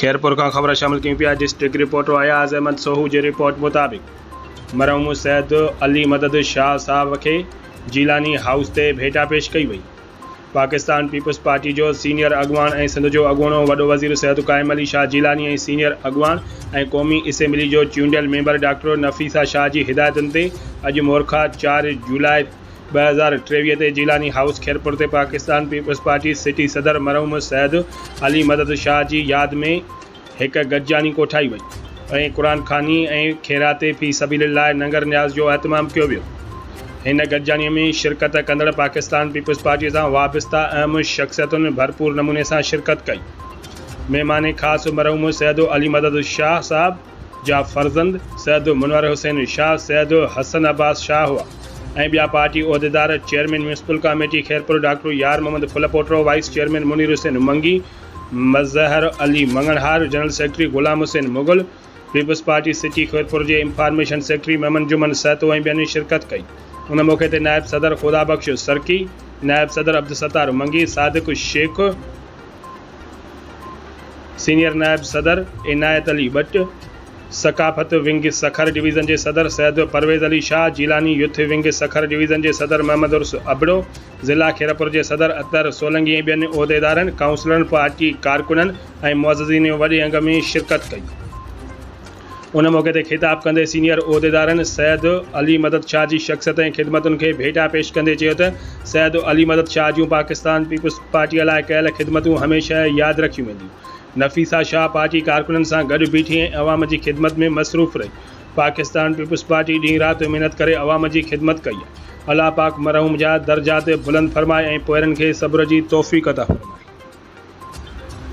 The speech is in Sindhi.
خيرپور کان خبر شامل ڪيون پيا ڊسٽرڪٽ رپورٽر اياز احمد سوهو جي رپورٽ مطابق مرحوم سيد علي مدد شاهه صاحب کي جيلاني هائوس تي ڀيٽا پيش ڪئي وئي پاڪستان پيپلز پارٽي جو سينيئر اڳواڻ ۽ سنڌ جو اڳوڻو وڏو وزير سيد قائم علي شاهه جيلاني ۽ سينيئر اڳواڻ ۽ قومي اسيمبلي جو چونڊيل ميمبر ڊاڪٽر نفيسه شاهه جي هدايتن تي اڄ مورخا چار جولاء ٻه هزار ٽيويهه تي جيلاني هائوس خيرپور تي پاڪستان پيپلز پارٽي سٽي صدر مرحوم سيد علي مدد شاهه جي ياد ۾ هڪ گڏجاڻي ڪوٺائي وئي ۽ قرآن خواني ۽ خيرات في سبيل الله ننگر نياز جو اهتمام ڪيو ويو هن گڏجاڻي ۾ شرڪت ڪندڙ پاڪستان پيپلز پارٽي سان وابسته اهم شخصيتن ڀرپور نموني سان شرڪت ڪئي مهمان خاص مرحوم سيد علي مدد شاهه صاحب جا فرزند سيد منور حسين شاهه، سيد حسن عباس شاهه هئا ۽ ٻيا پارٽي عهديدار، chairman municipal committee Khairpur doctor Yar Muhammad Phulpoto, vice chairman Munir Hussain Mangi, Mazhar Ali Manganhar, general secretary Ghulam Hussain Mughal, peoples party city Khairpur جي انفارميشن سيڪريٽري محمد جمن سهتو ۽ ٻين شرڪت ڪئي. ان موقعي تي نائب صدر خدا بخش سرڪي، نائب صدر عبدالستار منگي، صادق شيخ، سينيئر نائب صدر عنايت علي ٻٽ، ثقافت ونگ سکر ڊويزن جي صدر Syed Pervez Ali Shah, Jilani youth wing Sukkur division جي صدر محمد عرس ابڙو، ضلع خيرپور جي صدر اطهر سولنگي ۽ ٻين عهديدارن، ڪائونسلرن، پارٽي ڪارڪنن ۽ معززين وڏي انگ ۾ شرڪت ڪئي. ان موقعي تي خطاب ڪندي سينيئر عهديدارن سيد علي مدد شاهه جي شخصيت ۽ خدمتن کي ڀيٽا پيش ڪندي چيو ته سيد علي مدد شاهه جون پاڪستان پيپلز پارٽيء لاء ڪيل خدمتون هميشه ياد رکيون وينديون. نفيسه شاهه پارٽي ڪارڪنن سان گڏ بيٺي ۽ عوام جي خدمت ۾ مصروف رهي. پاڪستان پيپلز پارٽي ڏينهن رات محنت ڪري عوام جي خدمت ڪئي آهي. الله پاڪ مرحوم جا درجات بلند فرمائي ۽ پوئرن کي صبر جي توفيق عطا فرمائي.